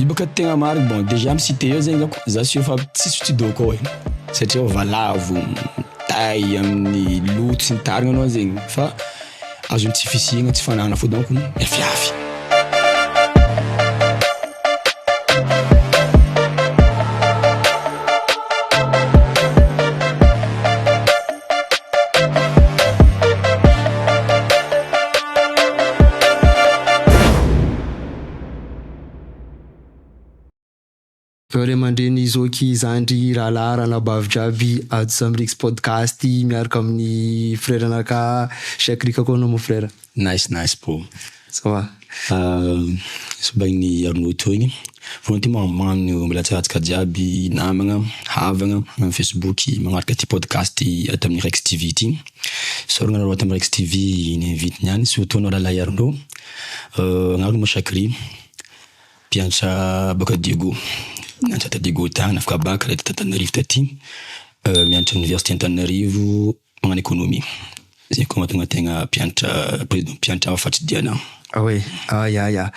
Izy bôka tegna marigny bon dejà am site eo zegny zao ko za sy eo fa tsisy studio ko e satria valavo tay amin'ny loto sy ny tariny anao zegny fa azon'ny tsy fisiana tsy fanana fô donko miafiafy. Ry aman-dreny Zoky zandry rahalahy ranabavy jiaby ato Zamrix podcast miaraka amin'ny frera naka siakrika koa anao mon frera. Nice nice bro. Ça va. Misy bain'ny Arnaud etoa igny. Voalohany ty magnano mbela tsara antsika jiaby namagna, havagna am Facebook magnaraka ty podcast ato amin'ny Rex TV ty. Soragna aloha ato amin'ny Rex TV ny invite niany surtout anao rahalahy Arnaud. Anareo moa Shakri, mpiantra baka Diego, niantra ta Diego tany, nafaka baka rehetra t'Antananarivo taty, mianatra oniversite Antananarivo magnano economie. Zay koa mahatonga tegna mpiantra président mpiantra hafa tsy dia anah. Ao e, ah ya ya.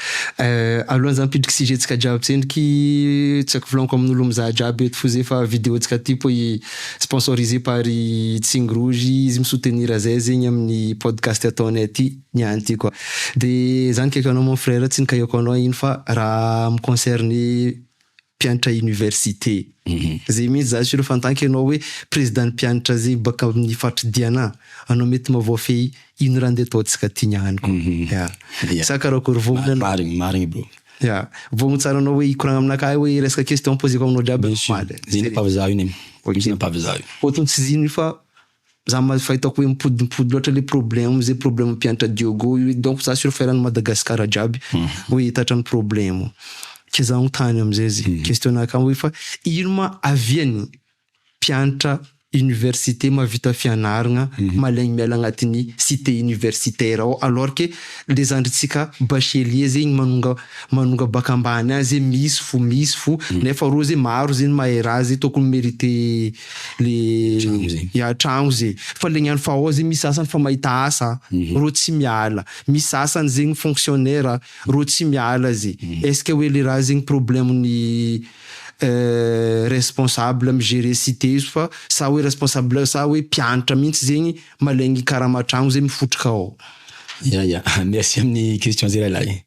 Alohan'ny za hampidriky sujet-tsika jiaby tsendriky, tsy haiko volagniko amin'olo mizaha jiaby eto f'ozy efa video-tsika ty po i sponsorisé par i Tsing Rouge, izy mi-soutenir zay zegny amin'ny podcast ataonay ty. ny any ty quoi de za nikaiko anao mon frère tsy nikaiko anao iny fa raha mi concerne mpiantra université zay mintsy za sûr fa en tant que anao hoe président ny mpiantra zay baka aminy faritry diana anao mety ma voafehy ino raha nde ataontsika ty ny any ko ya sa karakory voa marigny marigny marigny bro ya voa mo tsara anao hoe hikoragna aminakahy hoe resaka question poseko aminao jiaby mamaly zay ny ampavizaho iny e zay ny ampavizaho iny. Otony tsy zino io fa Za ma fa hitako hoe mipodimpody loatra le problème ze problème mpiantra Diogo io hoe donc za sur fa eran'i Madagascar jiaby vo hita hatrany problème ke za no tany amizay ze question-na akama hoe fa ino ma avian'ny mpiantra université mavita fianaragna malaigny miala agnatin'ny cité universitaire ao alors ke le zandritsika bachelier zegny manonga manonga bac ambany any ze misy fo misy fo nefa reo ze maro ze ny mahay raha ze tokony merite le hiatragno ze fa le gn'any fa ao ze misy sasany fa mahita asa mhm. ro tsy miala misy sasany zegny fonctionnaire ro tsy miala ze mhm. est-ce que hoe le raha zegny problème ny euh, responsable am gérer cité izy fa sa hoe responsable sa hoe mpianatra mihitsy zegny malegny karama tragno ze mifotroka ao ya ya merci amin'ny question zay lahilahy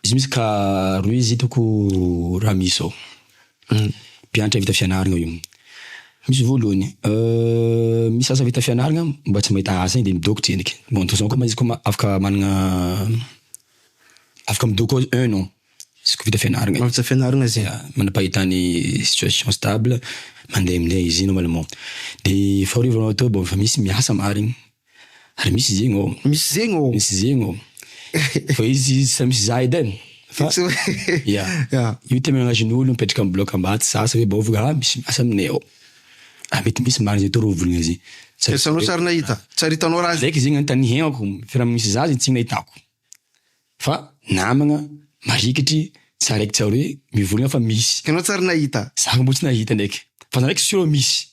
Izy misy ka rohy izy hitako raha misy ao. Mpianatra vita fianarana io. Misy voalohany, misy asa vita fianarana mba tsy mahita asa iny dia midoko tsendriky. Bon de toute façon koa ma izy koa afaka manana afaka midoko ao un an izy koa vita fianarana. Efa vita fianarana izy. Ya, manam-pahitana situation stable, mandeha amin'ilay izy iny normalement. Dia fahoriana vao atao bon efa misy miasa marina. Ary misy zegny ô. Misy zegny ô. Misy zegny ô. Fa izy tsy misy za edy e. Fa ya. Io temenazin'olo mipetraka am bloc Ambato za sa Bebo vogla a misy miasa aminay ao. A mety misy marigny zay toro voligna zay. Eritreretanao sa ry nahita? Sa ry hitanao raha. Zay ke zegny anotaniako firy am misy za zegny tsy nahitako. Fa namagna marikitry tsy araiky tsy aroe mivoligna fa misy. Enao tsa ry nahita? Za mbo tsy nahita ndraiky. Fa za ndraiky sûr misy.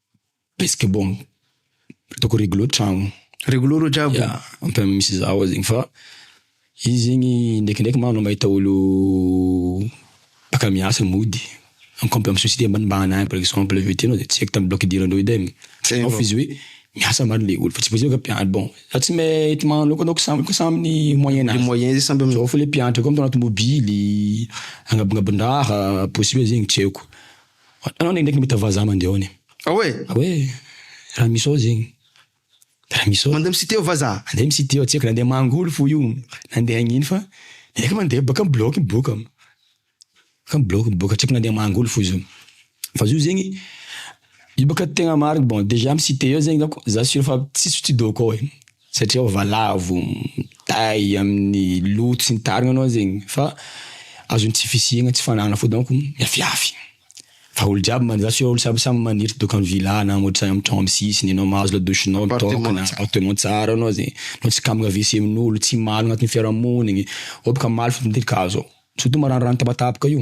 Basketball. Ataoko rigolo an-tragno. Rigolo rô jiaby? Ya, enfin misy za ao zegny fa izy zegny ndrekindreky ma anao mahita olo baka miasa mody en comp- amy société ambanimbany any par exemple aveo aty anao de tsy haiko tam bloc idiranareo edy ai. Zay vao izy hoe miasa marigny le olo fa tsy voatery hoe mpianatra. Bon, za tsy mahay eto magnano loatra donc samy samy ny moyen nazy. Le moyen zegny samy amin'izao. Zao fo le mpianatra koa mitaona tômôbily, agnabongabon-draha possible zegny tsy haiko. Anao ndraindraiky mahita vazaha mandeha ao anie. Ao e! Ao e! Raha misy ao zegny. Raha misy ao. Mandeha mi-site ao vazaha. Mandeha mi-site ao, tsy haiko na handeha mangoly fo io, na handeha hagnino fa efa mandeha bôka mibilaogy miboaka. Efa mibilaogy miboaka, tsy haiko na handeha mangoly fo zao. Fa zio zegny, io bôka tegna marigny, bon dejà mi-site ao zegny za ko, za sûr fa tsisy tsy dôko ao e. satria valavo tay amin'ny loha tsy nitarina anao zegny fa azony tsy fisiagna tsy fananana fo donc miafiafy fa olo jiaby man- za tsy hoe olo samby samby maniry doka am villa na am otrany am tragno am sisiny anao mahazo la douche nao mitôka na appartement tsara anao zegny anao tsy kambana wc amin'olo tsy malogna agnatin'ny fiarahamonigny ao boka malogna ny tetik'azy ao surtout maranirano tapatapaka io.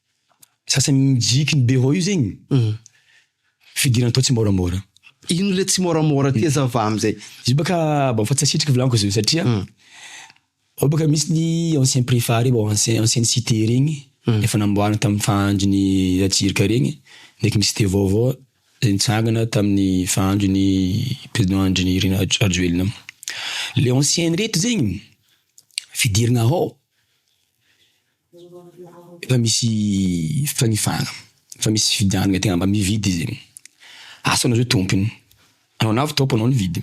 Sasany mijiky ny Beraoa io zegny fidirana tao tsimoramora. Ino le tsimoramora ty aza va amizay? Izy io baka mba fa tsy asitriko volagniko izy io satria ao baka misy ny ancien prefa reo ancien ancienne cite regny efa namboarina tam fahandrony Ratsiraka regny ndreky ny cite vaovao zay nitsangana taminy fahandrony président Andry Nirina Rajoelina. Le ancienne rehetra zegny fidirana ao. Efa misy fanifana, efa misy fividianana tegna mba mividy izy e. Asa anao zao tompony, anao lavo top anao nividy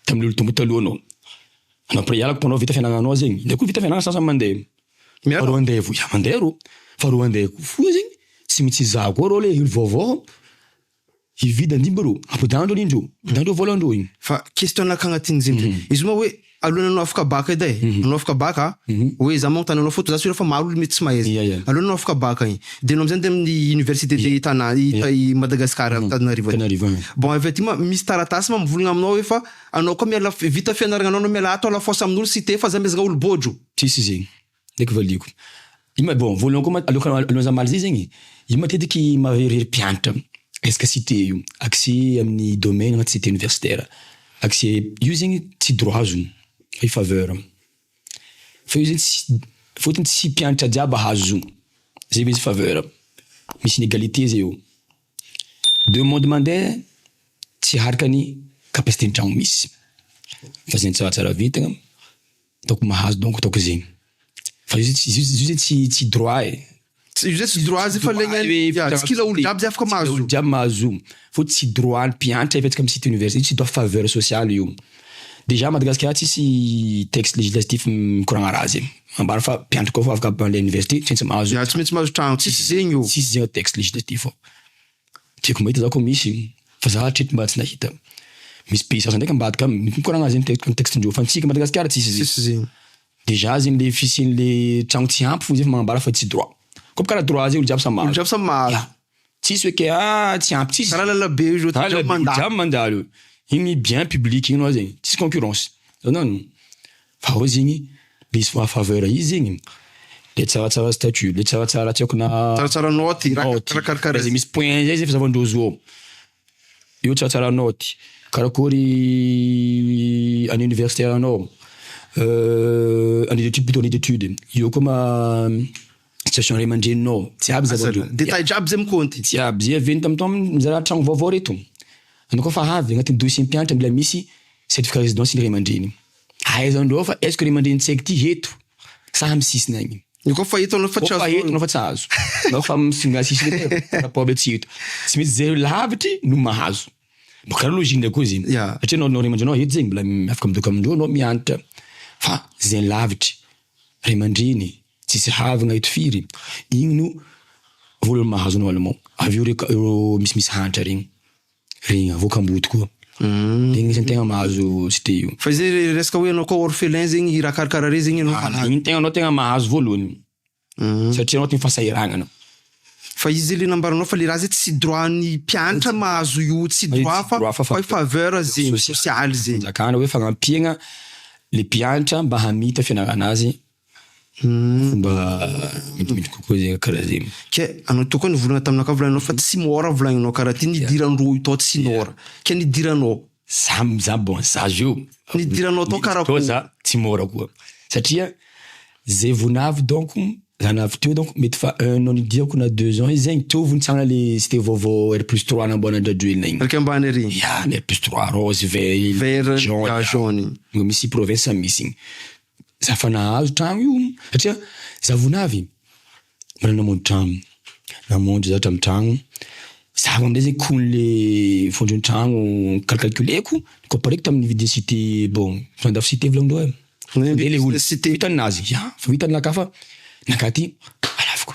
tamin'ny olo tompo taloha anao. Anao après hiala anao vita fianananao zegny, ndray koa vita fiananana sasany mandeha. Faharoa andeha vo- ya mandeha rô, faharoa andeha koa fo zegny tsy mitsy izaho koa rô le olo vaovao. Hividy andia mba rô. Ampodano ndrô anie ndrô. Ampodano ndrô vôla ndrô iny. Fa question anaka agnatin'ny zegny zay. Izy moa hoe alohan'ny anao afaka bac edy e. Anao afaka bac a. Hoe za magnotany anao fôto za sûr fa maro olo mety tsy mahay. Ia ia. Alohan'ny anao afaka bac igny. De anao amizay mande amin'ny université de tana i Madagascar ato Antananarivo aty. Tanarivo agny. Bon avy aty ma misy taratasy ma mivolagna aminao hoe fa anao koa miala vita fianaragna anao anao miala ato à la force amin'olo site fa za mezagna olo bôdro. Tsisy zegny. Ndraiky valiako. Io ma bon voalohany koa ma aloha alohan'ny za mamaly zay zegny, io matetiky mahaverimbery mpianatra resaka site io, accès amin'ny domaine agnaty site universitaire. Accès io zegny tsy droit azony fa io faveur. Fa io zegny tsy fôtony tsy mpianatra jiaby ahazo izy io, zay vao izy faveur. Misy inégalité zay eo. Demande mandeha tsy aharaka ny capacité ny tragno misy fa zegny tsaratsara vintagna. ataoko mahazo donc ataoko zegny fa io zay io zay tsy tsy droit e io zay tsy droit zay fa legny any tsy kila olo jiaby zay afaka mahazo olo jiaby mahazo fô tsy droit ny mpianatra efa atsika misy université io tsy droit faveur sociale io dejà Madagasikara tsisy texte législatif mikoragna raha zegny ambara fa mpianatra koa fa afaka mpandeha université tsy maintsy mahazo ya tsy maintsy mahazo tragno tsisy zegny ô tsisy zegny texte législatif ô. Tiako mahita za ko misy fa za hatreto mba tsy nahita. Misy pays sasany ndraiky ambadika aminy mikoragna azy zegny ny texte ndreo fa antsika Madagasikara tsisy zegny. Tsisy zegny. Dejà zegny le fisiany le tragno tsy ampy fô zay fa magnambara fa tsy droit. Kô bôka raha droit zay olo jiaby samy mahazo. Olo jiaby samy mahazo. Tsisy hoe ke ah tsy ampy tsisy. Kara lalabe io zao olo jiaby mandalo. Olo jiaby mandalo. Igny bien public igny anao zegny tsisy concurrence. Zao nano. Fa ao zegny misy maha faveur izy zegny le tsaratsara statut, le tsaratsara tsy haiko na. Tsaratsara naoty, raha karakara. Izay misy point izay zay fizavandrozo ao, io tsaratsara naoty, karakory any universitaire anao, annee d'étude plutôt annee d'étude, eo koa ma- situation ray aman-dreninao, jiaby zava-dreo. Détail jiaby zay mikaonty. Jiaby zay avy eo tam tam mizara tragno vaovao reto, anao koa fa avy agnatin'ny dossier mpianatra mila misy certificat résidence ny ray aman-dreny. Aiza ndrô fa aisko ry mandreny tsy aiky ty eto sa am sisiny agny. Nao koa fa eto nao fa tsy azo. Nao fa eto nao fa tsy azo. Nao fa am sisiny eto rapport ndray tsy eto. Tsy maintsy zay lavitry no mahazo. Mba kara logique ndray koa zegny. Satria nao nao ray aman-drenao eto zegny mbola afaka midôko am ndrô nao miantitra fa zay lavitry ray aman-dreny tsisy havagna eto firy igny no vola mahazo nao alemao. Avy eo reo ka reo misimisy hantra regny. Regny avoakam-boto koa. Regny mihitsy ny tegna mahazo tsy de io. Fa izay resaka hoe ianao koa orphelin zegny i rakarakara re zegny ianao. Anao ny tegnanao tegna mahazo voalohany satria anao ty ny fahasahiragnana. Fa izy zay le nambaranao fa le raha zay tsy droit an'ny mpianatra mahazo io tsy droit fa hoe faveur zay sosialy zay. Fanjakana hoe fagnampiagna le mpianatra mba hamita fianarana azy Fomba midimpiditra kokoa zegny karaha zegny. Ke anao teo koa nivolagna taminakahy volagninao fa tsy môra volagninao karaha ty nidiran-droa io tao tsy nôra ke nidiranao. Za za bon za zio Nidiranao tao karaha akôry? za tsy môra koa satria ze vao navy donc za navy teo donc mety fa un an nidiako na deux ans izy zegny teo vao nitsanga le tsy de vaovao R plus trois namboarina andradroelina igny. Raika ambany ery. Ya ny R plus trois rose vert jaune. Vert jaune. Mbô misy province misy igny. Za fa nahazo trano io satria za vonavy mbola namonjy trano, namonjy za hatramin'ny trano, za vao amizay zegny kony le fondron'ny trano kalkalkileko compareko tamin'ny vidin'ny site bon fa andafy site volan'ireo e. Vidin'ny site. Fa vitany nazy, ya fa vitany naka fa naka aty alaviko.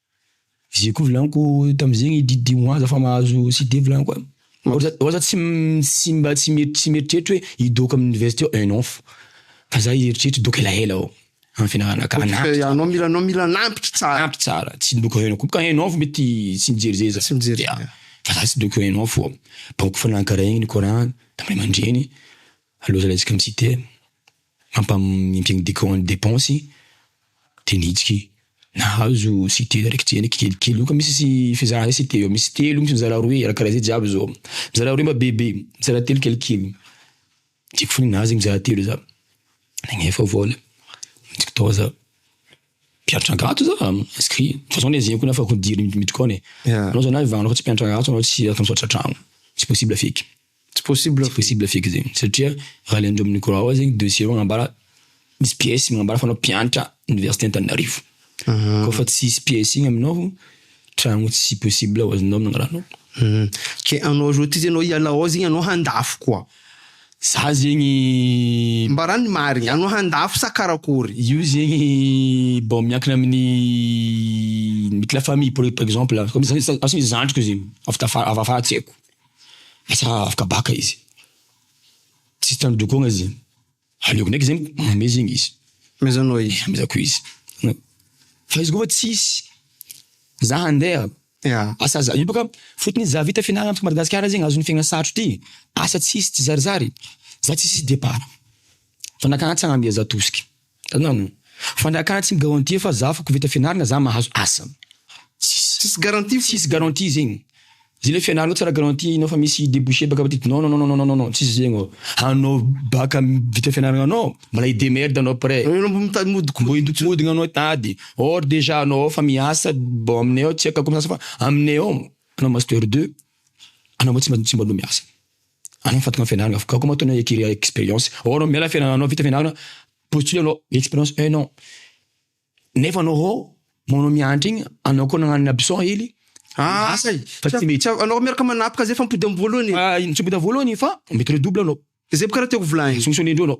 Zay koa volaniko tamzegny Diddy ho aza fa mahazo CD volaniko an! Ho aza ho aza tsy tsy mba tsy mieritreritra hoe hidoka amin'ny université aho eh non fa fa za hieritreritra hidoka elaela aho amin'ny fianarana ka na Fa anao mila anao mila anampy tsara. Ampy tsara, tsy hidoka un an koa ka un an fo mety tsy mijery zay za, Tsy mijery zay. fa za tsy hidoka un an fo an! Baiko fanahy nikaraigny ny Coran tamin'ny ray aman-dreny aloha zalahy tsy ka mi-citer. Ampamin'ny dikao ny depensy dia ny hitsiky. Nahazo site raiky tsy henaiky kelikely io ka misy sy fizarana zay site io, misy telo, misy mizara roe raha karaha zay jiaby zao. Mizara roe mba bebe, mizara telo kelikely. Tiako fona nahazo mizara telo za. Nagnefa vola, nitsiky tao za. Mpianatra angato za, inscrit. De toute façon le zay koa nafa-ko dire ny dikao e. Anao zalahy vanona fa tsy mpianatra angato anao tsy ato misaotra an-tragno. Tsy possible feky. Tsy possible fix zegny satria raha le ndromin'ny croix rouge zegny dossier reo manambara misy pièce manambara fa anao mpianatra université Antananarivo koa fa tsisy pièce igny aminao tragno tsy possible ho azonao amin'igny raha anao ke anao zao ty zany anao hiala ao zegny anao handafy koa za zegny mbarao ny marigny anao handafy sa karakory io zegny bon miankina amin'ny mety la famille par exemple za misy zandriko zegny avy tafara avy afara tsy haiko. Lasa afaka baka izy. Tsisy tandrokogna izy. Aleoko ndraiky zegny manome zegny izy. Amezanao izy. Amezako izy. Fa izy koa fa tsisy, za handeha. Yeah. Asa za, io baka fotony za vita fianarana aty Madagasikara zegny azon'ny fiaigna sarotro ty. Asa tsisy, tsizarizary. Za tsisy départ. Fa nakagna tsy agnamia za tosiky. Tanàna. Fa ny akany tsy mi-garantie fa za fa koveta fianarana za mahazo asa. Tsisy garantie fô. Tsisy garantie zegny. Zay le fianarana tsara garantie anao fa misy deboucher baka petit non non non non non tsisy zegny ô. Anao baka vita fianarana anao mbola hi demerde anao après. Anao mbo mitady mihodikodigna anao hitady. Or dejà anao efa miasa bon aminay ao tsy haiko akory miasa fa aminay ao anao master deux anao mbo tsy mba tsy mba anao miasa. Anao Fatima fianarana avy gaga matoa anao ekiry experience hoo anao miala fianarana anao vita fianarana postule anao experience un an nefa anao hoo manao miandry igny anao koa nagnano ny absent ely ah asa e fa tsy mety Tsa- anao miaraka manapaka zay fa mipody am voalohany e. ah ino tsy mipody am voalohany fa mety redouble anao Zay bôka raha tiako volaigny. solution ny indreo anao.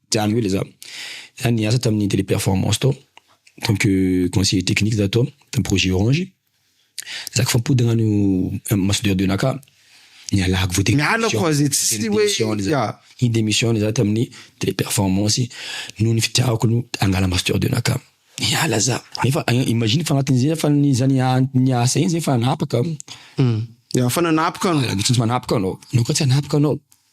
Dia any koa ilay za. Za niasa tamin'ny Teleperformance tao, en tant que conseiller technique za tao, tamin'ny projet Orange. Za k'fa mipody agn'any maha soudeur de nacà, nialako vao te Miala quoi zay tsy hoe ya. Ni-demissionne za tamin'ny Teleperformance noho ny fitiavako ny hangala maha soudeur de nacà. Niala za. Nefa imagine fa agnatin'izay za fa ny za nia- niasa iny zay fa nanapaka. Ya fa nanapaka anao. Aleo tsy manapaka anao. Anao koa tsy hanapaka anao.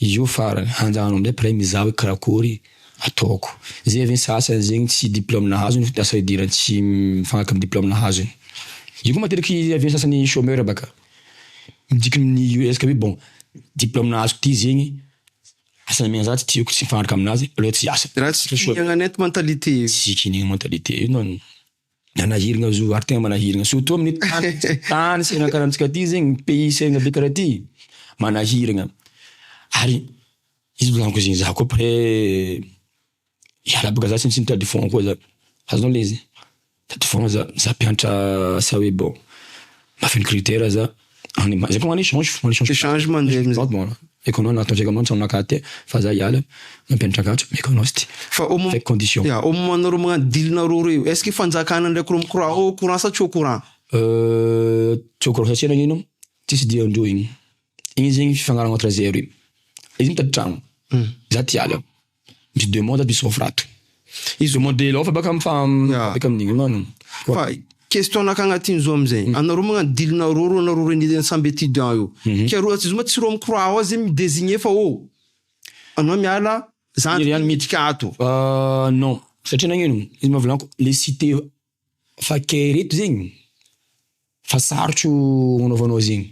Io farany, hanjanano amin'izay mpiray mizaha hoe karakory ataoko. Izay avy ny sasany zegny tsy diplôme nahazony fa lasa idiran'ny tsy mifanaraka amin'ny diplôme nahazony. Io koa matetiky avy amin'ny sasany chômeur baka. Midika amin'ny io resaka hoe bon, diplôme nahazoko ty zegny, asa amian'ny za tsy tiako, tsy mifanaraka aminazy, aleo tsy hiasa. Raha tsy kinihagna net mentalité io. Tsy kinihagna mentalité io non. Manahiragna zo ary tegna manahiragna surtout amin'ny tany tany sahiragna karaha antsika ty zegny pays sahiragna be karaha ty manahiragna ary izy volaniko zegny za ko après hiala boka za tsy misy mitady fond koa za azonao le izy mitady fond za, za mpiantra asa hoe bon mahafeno critère za. Any ma- zay koa magnano échange, magnano échange. Échange mandeha Échange amizay. bon, haiko anao na ataontsika anao mitsaha aminakahy aty fa za hiala mampianatra akanjo meko anao sty. Fa au mom- Avec condition. Ya, au moment nareo magnano deal nareo roa io, est-ce que fanjakana ndraiky reo mikora ao au courant sa tsy au courant? Euh, tsy au courant satsia nagnino an, tsisy deal ndreo igny, igny zegny fifagnarahana entre zero io, izy mitady tragno, za ty hiala. Misy deux mondes de Sovato. Izy zao modèle ao fa baka fa beka amin'ny dingana no. Fa question naka agnatiny zao amizay, anareo magnano dilinareo reo anareo reny samby étudiant io, ka reo atsy zoma tsy reo mikora ao zay mi désigner fa ô anao miala zandriko miditra ato. Non, satria nagnino, izy maha volany ko le site Fa kay reto zegny fa sarotro anaovanao zegny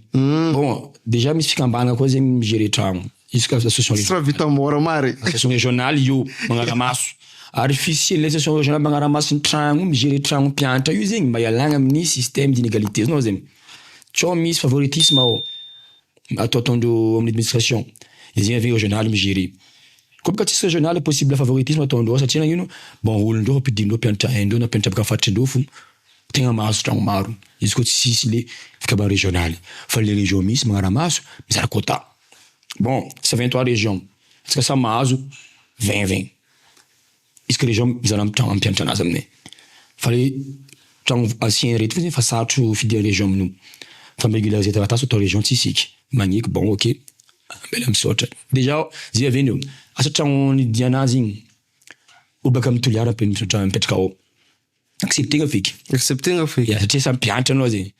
bon dejà misy fikambana koa zegny mi gerer tragno juska association régionale. Tsy raha vita mora maro e. Association régionale io magnara maso ary fisian'ny ilay association régionale magnara maso ny tragno io mi gerer tragno mpiantra io zegny mba hialagna amin'ny système d'inégalité izy nao zegny sao misy favoritisme ao atao ataondreo amin'ny administration de zegny aveo régionale mi gerer. Complexe régional possible favoritisme ataondreo ao satria nagnino bon olondreo ampidindreo mpianatra haindreo na mpianatra avy faritrindreo fo tegna mahazo tragno maro izy ko tsisy le fikabaha régional fa le région misy magnaramaso mizara quota bon c'est vingt trois région antsika samy mahazo vingt vingt. Izy kay reo mizaha ny tragno ampianatra anazy aminay fa le tragno ancien reto fotsiny fa sarotro fidian'ny région amin'io fa mi-regulariser zay taratasy ato région tsy isika magneky bon ok ambela misaotra dejà zay avy eo asa tragno nidian'azy iny obaka amin'ny toliara mipetraka ao. Accepter nga feky. Accepter nga feky. Ya satria samy mpianatra anao zegny.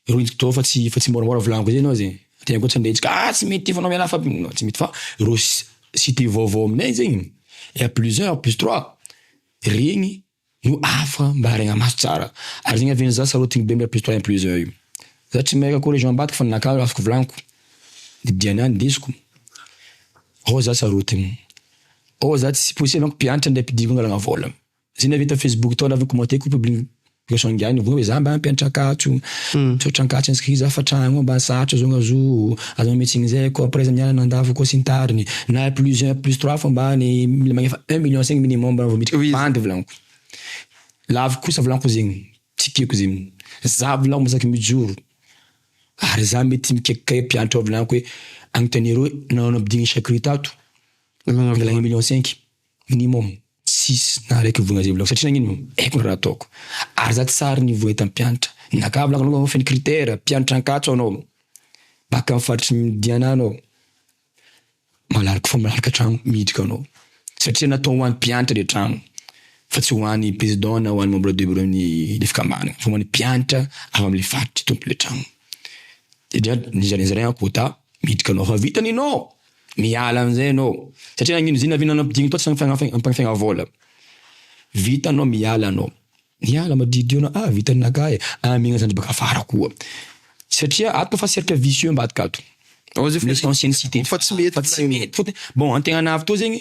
Reo indro toa fa tsy fa tsy môramôra volaniko zay anao zegny. Tegna koa tsy andeha antsika ah tsy mety efa miala fa non tsy mety fa reo si- cité vaovao aminay zegny ya plus un plus trois regny no hafa mba aregna maso tsara. Ary zegny avy eo za sarotiny be amle plus trois plus un io. Za tsy mahay raha région ambadika fa ninakà azoko volaniko de dianà ndesiko. Reo za sarotiny. Reo za tsy possible amiko mpianatra ndray mpidiriko angalagna vôla. Zay ny avy eto facebook tao lavako commenter ko publin Boisson ingahy nivoy hoe za mba mpianatra Ankatso misaotra Ankatso inscrit za fa tragno ambany sarotra zao nazo aza manome tsiny zay ko après za mianana andafy ko sy ny tariny na plus un plus trois fo ambany mila magnefa un million cinq minimum vao miditra bandy volaniko laviko kosa volaniko zegny tsy tiako zegny za volaniko mba saky mijoro ary za mety mikaikikay mpianatra ao volaniko hoe anontaniareo hoe nahoana ampidiriny chacru tato mangala un million cinq. Minimum six na araiky vola zay volako satria nagnino haiko ny raha ataoko ary za tsy sahary niveau entam pianatra naka volako anao feno critère pianatra ankatso anao baka am faritry ny diana anao malalako fo malalaka tragno miditra anao satria natao ho any pianatra le tragno fa tsy ho any président na ho any membre de bureau ny le fikambanana fa ho any pianatra avy amle faritry tompony le tragno de dra nizaraizaraiko quota miditra anao fa vita ny nao. Miala amin'izay ianao satria nagnino zinavinana ampidiriny tao tsy ampiampina vola. Vitanao miala anao. Miala madiodio anao ah vita ny naka e ah mihinana zandry baka afara koa satria ato efa cercle vicieux ambadika ato. Misy anciennes cités fa tsy mety fa tsy mety fotony bon antegnana avy teo zegny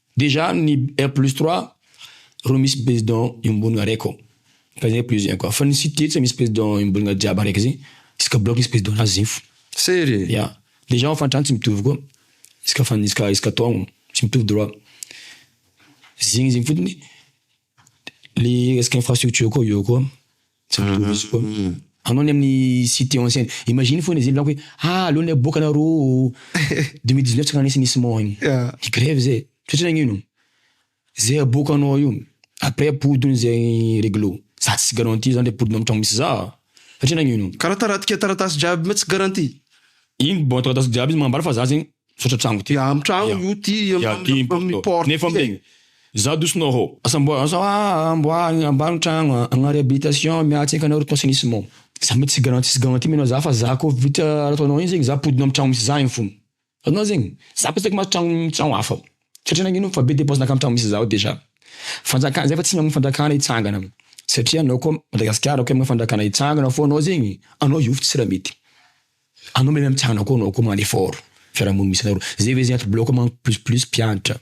Déjà ny un plus trois ro misy président iombonana araiky ao ka zay plus un koa fa ny cité tsy misy président iombonana jiaby araiky zay isaka block misy président nazy zay fo. Sery e! Ya déjà hofan-trano tsy mitovy koa isaka fan- isaka isaka taogno tsy mitovy droit zegny zegny fotony le resaka infrastructure koa eo koa. Tsara mihintsy koa. Anao ny amin'ny site en scène. Imagine foana izy milaoka hoe ah aleo ny aboaka nareo oo. Deux mille dix neuf tsy karaha nisy nisy mort iny. Ny grève zay. Tsy haiko nagnino. Zay aboakanao io. Après ampody hono zay règle. Za tsisy garantie zany le ampodinao amin'ny tragno misy za. Satria nagnino. Karaha taratika taratasy jiaby ma tsy garantie. Iny bon taratasy jiaby izy manambara fa za zegny. Misaotra trango ty. Amin'ny tragno io ty amin'ny porte. Nefa mbegny. Za douce nao hô. Asa mboa asa amboarigna ambany tragno a, agna réhabilitation miala tsaiky anareo to assainissement. Za mety tsy garantie tsy garantie mena za fa za ko vita raha ataonao igny zegny za ampodina am tragno misy za igny fona. Azonao zegny? Za ko tsy aiko mahazo tragno hafa. Satria nagnino fa be depense nankany tragno misy za ao dejà. Fanjakana zay fa tsy mamono fanjakana hitsangana satria anao ko Madagasikara ko amina fanjakana hitsangana fô anao zegny anao hiofo tsy raha mety. Anao meme am tianao koa anao koa man effort fiarahamonina misy anareo zay ve zay ato bloc manko plus plus mpiantra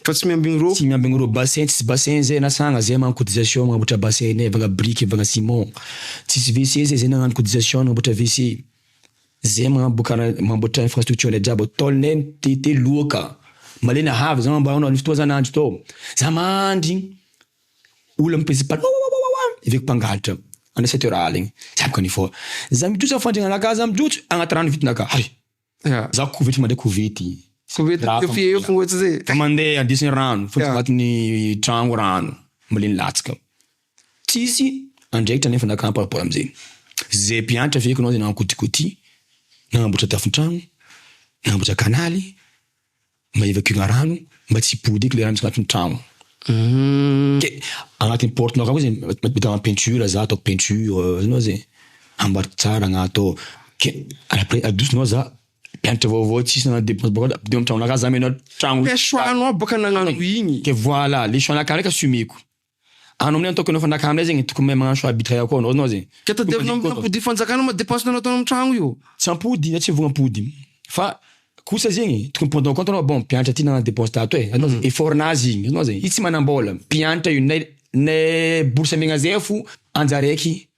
Fa tsy miambigny ro. Tsy miambigny ro bassin tsisy bassin zay na sagna zay magnano cotisation magnamboatra bassin ne vagna brique vagna ciment tsisy WC zay zay nagnano cotisation nagnamboatra WC zay magnambokara mamboatra infrastructure ndraiky jiaby ao tôl ne mitete loaka malemy havy za ambarao anao nisy fotoagna za nandry tao za mandry Olona mipezi bala wawawawa veko mpangalatra any sept heures aligny tsy aiko any fort za mijotso am fandriana anaka za mijotso agnaty rano vita naka hay za kovety mandray kovety kovety teo fie eo fogna zay fa mandeha andesigny rano fo agnatin'ny tragno rano malemy latsaka tsisy andraikitra nefa naka par rapport amzay ze mpiantra feko anao ze nagnakotikoty nagnamboatra tafon-tragno nagnamboatra kanaly. Mba evacuer-na rano mba tsy hibodeky ilay rano misy anatin'ny trano. Ke agnatin'ny porte-nao akao izy mety manao peinture za ataoko peinture hitanao zay ambariko tsara agnatao ke après adosonao za mpianatra vaovao tsisy nanao depense bôka de ampidirina am-tragnonao aka za mianao tragno Ke choix-nao bôka nagnano igny. Ke voila le choix-nakah ndraiky assumer-ko. Anao aminay ataoko anao fanjakana aminay zegny tokony mahay magnano choix arbitre akao anao anao zegny. Ka tadiavina amina ampodian'ny fanjakana ma depense anao ataonao amin'ny tragno io. Tsy ampody na tsy vogno ampody fa kosa zegny tokony prendre en compte anao bon mpianatra ty nagnano depense tato e anao zegny effort nazy igny anao zegny izy tsy manambola mpianatra io nay nay bourse amegna zay fo anjaraiky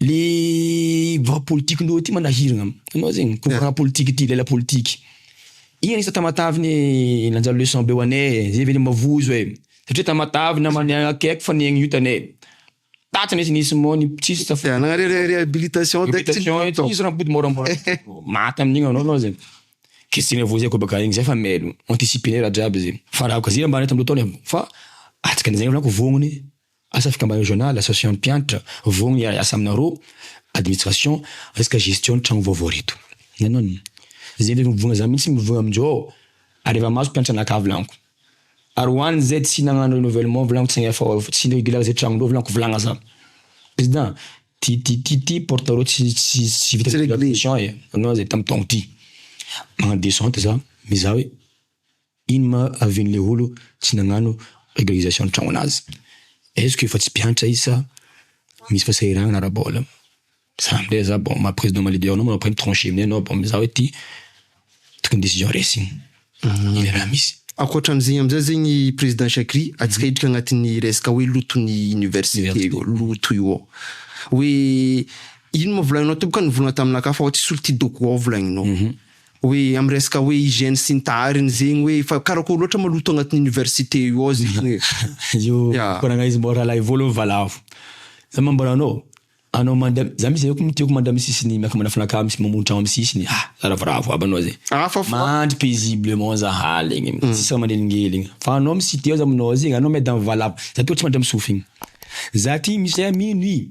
Le vaha politique nao ity manahirana anao zegny courant politique ity lela politique ino izy tamatave ne nanjary leçon be ho ane zay ve le mavozo e satria tamatave namany akaiky fa nihaigny io tane taty nisy nisy moa ny tsisy taf- Te hanana re- re- réhabilitation de tsy Réhabilitation ity izy raha mipody môramôra maty amin'igny anao anao zay kesitry ny voizay koa baka igny zay efa mailo anticiper-ne raha jiaby zay fa raha kazia ambany tamy loto any fa atsika an'izay volako vognogny. Asa fikambanana regional, association mpiantra, vogny hiara-hiasa aminareo, administration, resaka gestion ny tragno vaovao reto. Hitanao an! Izay le mivogna za mihitsy mivogna amin'izao aho, ary efa mahazo mpianatra anakavy laniko. Ary ho an'ny izay tsy nagnano renouvellement volaniko tsy nf tsy regular izay tragnondreo volaniko volagna za. Président, ty ty ty ty porte reo tsy tsy tsy vita Tsy regular. finition e, hitanao izay tamin'ny taogno ty. Magnano descente za mizaha hoe Ino ma avin le olo tsy nagnano régularisation tragno anazy? Est-ce que efa tsy mpiantra izy sa misy fasahiranana ara-bola? Za ndray za bon maha président maha leader anao ma après mi trancher amzay anao bon mizaha hoe ty tokony décision resiny le raha misy. Ankoatran'izegny amizay zegny président Shakry atsika hiditra agnatin'ny resaka hoe loton'ny université io loto io ao hoe ino ma volagninao tompoko ka nivolagna taminakahy fa ho tsisy olo tia dogo ao volagninao. Hoe am resaka hoe hygiène sy ny tahariny zegny hoe efa karakôry loatra ma loto agnatin'ny université io ao zegny hoe Io Ya. fikoragna izy mbô rahalahy vao aloha valavo. Za manambara anao, anao manda, za misy zay tiako manda amy sisiny miaraka manafana akao misy mamono tragno amy sisiny ah za ravoravo aby anao zegny. Ah fa fa. Mandry paisiblement za haligny tsisy raha manelingeligny fa anao misy ity ao za aminao ao zegny anao miady amy valavo za tô tsy mandry amy sofigny. Za ty misy zay mino i.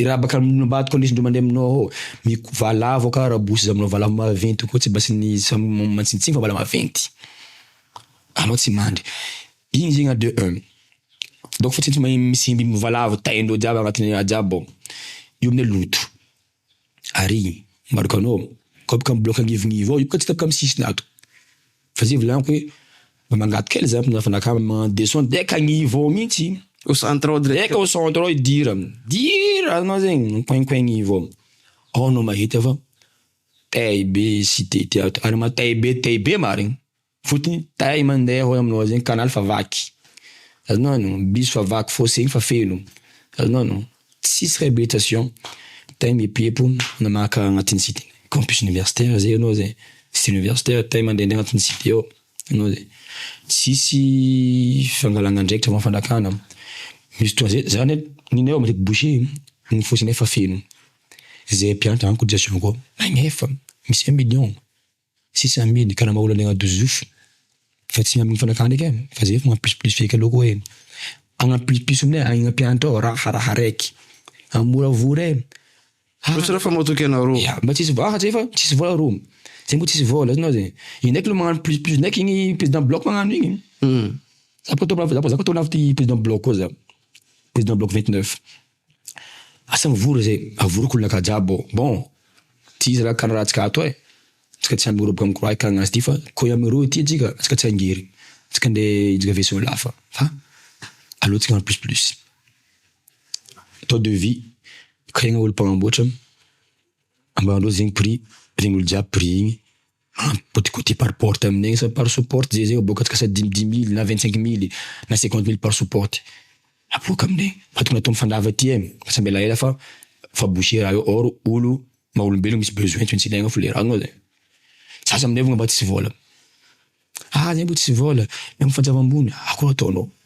Irabaka aminao ambadiko aloha izy ndro mandeha aminao ao mi valavo ka rabosy izy aminao valavo maventy koa tsy mba tsy ny tsy mantsintsiny fa mbola maventy anao tsy mandry iny zegny a de un donc fa tsy tsy mahay misy biby mivalavo taindreo jiaby agnatiny ao jiaby ao io amizay loto ary marika anao kôpka mibiloka agnivognivo ao io bôka tsy tapaka amy sisiny ato. Fa zay volaniko hoe mba mangady kely zany mpindrana fanakana magnano des sons de eka agnivo ao mintsy. Au centre ao direct. Eka au centre ao idir, dir anao zegny mikoinkoin agnivo ao, ao anao mahita fa tay be sy tay ty ato ary ma tay be tay be marigny fotony tay mande ao aminao ao zegny canal fa vaky azonao aloha, bus fa vaky fosse igny fa feno azonao aloha. Tsisy rehabetration tay miepiepo na maka agnatin'ny site campus universitaire zay anao zay site universitaire tay mandehandeha agnatin'ny site ao anao zay tsisy fangalana andraikitra na fanakana misy fotoana zay zany ny nay ao matetika bouche ny fosinay efa feno zay mpiantra any cotisation-ko ao magnefa misy un million. Sisa amin karama olona ny agnadozofo fa tsy amin fanakana ndreky an fa zay efa mampisopiso feky aloha koa e agnampisopiso aminy agny ampianatra ao raha raha araiky an moramora e Mba tsy raha fa matoky anareo. Ya, mba tsisy vola, zay fa tsisy vola ro. Zay mbo tsisy vola, hitanao zay. Io ndraiky lo magnano plus plus ndraiky igny président bloc magnano igny. Za bôka to lavo za bôka za bôka to lavo ty président bloc koa za. Président bloc vingt neuf. Asa mivory zay, avory kolona ka jiaby ô. Bon, ty izy ra ka raha tsika ato e, tsika tsy hamoroboka mikora hikanga azy ty fa ko iamy roa ity tsika tsika tsy hangery, tsika nde hijika vaisseau lafa fa aleo tsika en plus plus. Atao devis, ikaregna olo mpanamboatra, ambarandreo zegny prix, regny olo jiaby prix igny. An, côté côté par porte aminay agny sa par sous porte zay zay ô, boka atsika dimy dimy mille na vingt cinq mille na cinquante mille par sous porte aboaka aminay agny fa tokony atao mifandava aty e, asa miala ela fa fa boucher raha io or olo maha olombelogno misy besoin tsy maintsy ilaigna folera-gno zany. Za aza aminay vao mba tsisy vôla, ah zay mbo tsisy vôla, miampy fanjava ambony, akôry ataonao?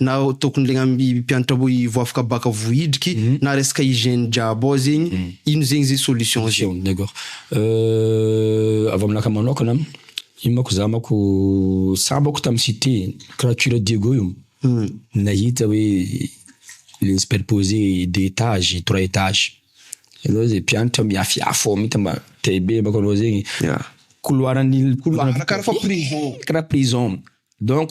na tokony legna mpianatra mboy vao afaka baka vao hidriky na resaka hygiène jiaby ao zegny ino zegny zay solution zay. D'accord avy aminah ka manokana io manko za manko sambako tam cite crature Diego io nahita hoe le superpose deux etage trois etage hitanao zay mpianatra miafiafy ao mintsy mba te hibe manko anao zegny couloir an'il couloir karaha prison donc.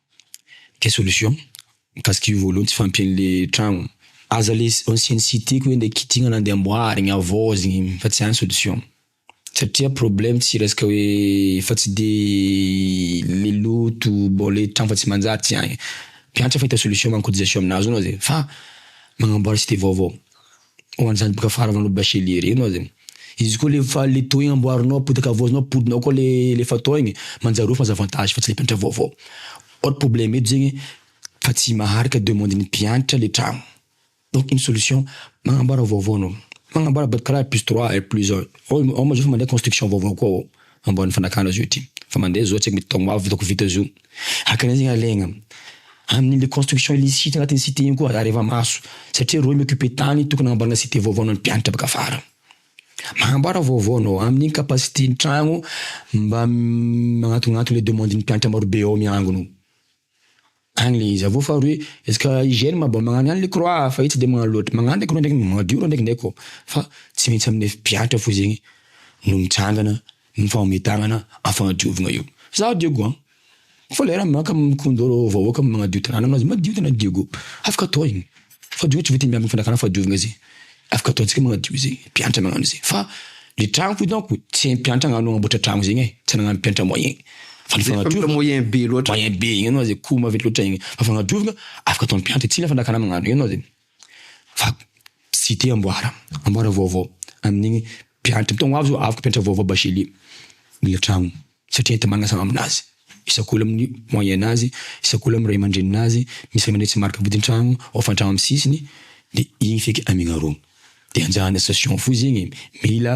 Quelle solution? Mikasika io voalohany tsy fahampian'ny le tragno. Aza le ancienne cité ko ande kitihina na ande amboarina havaozina fa tsy any solution. Satria problème tsy resaka hoe efa tsy de le loto bon le tragno efa tsy manjary tsy any. Mpiantra efa hita solution manko cotisation aminazy ao na zay fa magnamboara cité vaovao. Ho an'izany boka faharavanao bachelier reny oa zany. Izy koa le fa le taux igny amboarinao apotaka havaozinao apodinao koa le le efa taux igny manjary ofa avantage fa tsy le mpianatra vaovao. Or problème eto zegny fa tsy maharaka demande ny mpianatra le tragno. Donc ny solution magnamboara vaovao anao. Magnamboara bad kara R plus trois, R plus un, ao ao manjary efa mandeha construction vaovao koa ao. amboarin'ny fanakana zio ty fa mandeha zao tsy haiko mety taogno avy hitako vita zio haka an'izay zegny alaigna amin'ny le construction illicite agnatin'ny cité igny koa areva maso satria reo mi-occuper tany tokony agnamboarana cité vaovao an'ny mpianatra baka afara magnamboara vaovao anao amin'ny capacité ny tragno mba magnantognanto le demande ny mpianatra marobe ao miangona ao. Any le izy, avy eo faharoa hoe est-ce que hygiène mba magnano any le croix fa io tsy de magnano loatra, magnano le croix ndraiky magnadio reo ndraikinay koa fa tsy maintsy amin'ny mpiantra fo zegny no mitsangana mifagnome tagnana am'fagnadiovagna io, zaho diego an! fa lera maka mikondoro vahoaka magnadio tanàna amin'azy madio tena diego, afaka atao igny. Fadio tsy voatery miambina fanakana fahadiovana izay afaka ataontsika magnadio izay mpiantra magnano izay fa le tragno ko donc tsy hay mpiantra agnano agnamboatra tragno zegny ai tsy nagnano mpiantra moyen fa le fagnadiovana moyen be loatra moyen be igny anao zay ko maventy loatra igny fa fagnadiovana afaka atao mpiantra tsy mila fanakana magnano igny anao zay fa site amboara amboara vaovao amin'igny mpiantra mitaogno ho avy zao afaka mpiantra vaovao bachelier mila tragno. satria enti-manasa aminazy, isak'olona amin'ny moyen nazy, isak'olona amin'ny ray aman-dreny nazy, misy ray aman-dreny tsy marika vodin-tragno, hofan-tragno amin'ny sisiny, dia igny feky amignarogno. Dia anjara ny association fohy zegny e, mila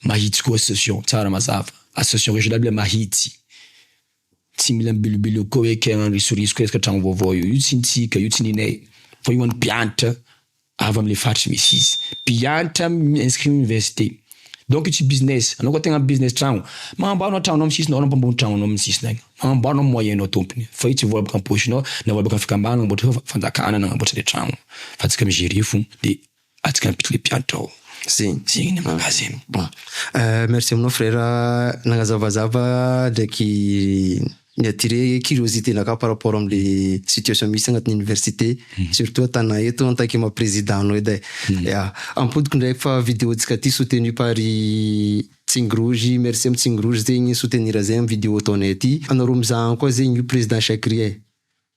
mahitsy koa association, tsara mazava, association régionale mila mahitsy, tsy mila mibilobiloky koa hoe kay agnano risoriso koa resaka tragno vaovao io, io tsy ny tsika, io tsy ninay, fa io ho an'ny mpiantra, avy amle faritra misy izy, mpiantra mi-inscrit université, donc io tsy business, anao koa tegna business tragno, magnamboaro anao tragnonao am sisiny ao na mpamboly tragnonao am sisiny agny, magnamboaro anao am moyen nao tompony, fa io tsy vola boka am poche-nao na vola boka am fikambanana nagnamboatra fa fanjakana nagnamboatra le tragno fa antsika mi-gerer fona de antsika ampiditra le mpiantra ao, zegny zegny ny aminah zegny. Bon, merci aminao frera nagnazavazava ndraiky. Ni attirer curiosité naka par rapport amle situation misy agnatin'ny université surtout atana eto en tant que ma président anao edy ai. Ya. Ampodiko ndray fa video ntsika ty soutenu par ry Tsing Rouge, merci am Tsing Rouge zegny soutenir zay am video ataonay ty. Anareo mizaha any koa zegny io président Shakry ai.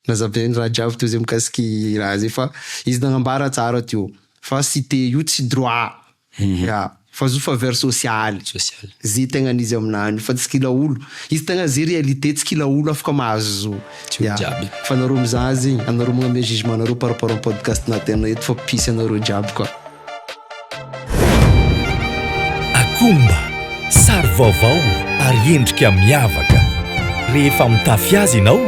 Nazavainy ny raha jiaby teo zay mikasika i raha zay fa izy nagnambara tsara teo fa site io tsy droit ya fa zo faveur sociale Sociale. ze tegna an'izy aminany io fa tsy kila olo izy tegna ze réalité tsy kila olo afaka mahazo zo Tsy olo ya jiaby. fa anareo mizaha zegny anareo magname jugement anareo par rapport am podcast natin eto fa mpisy anareo jiaby ka. Akomba, sary vaovao ary endrika miavaka. Rehefa mitafy azy ianao,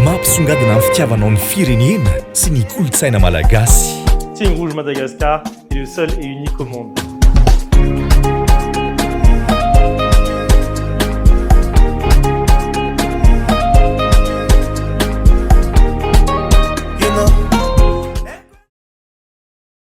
mampisongadina ny fitiavanao ny firenena sy ny kolontsaina malagasy. Team Rouge Madagascar est le seul et unique au monde.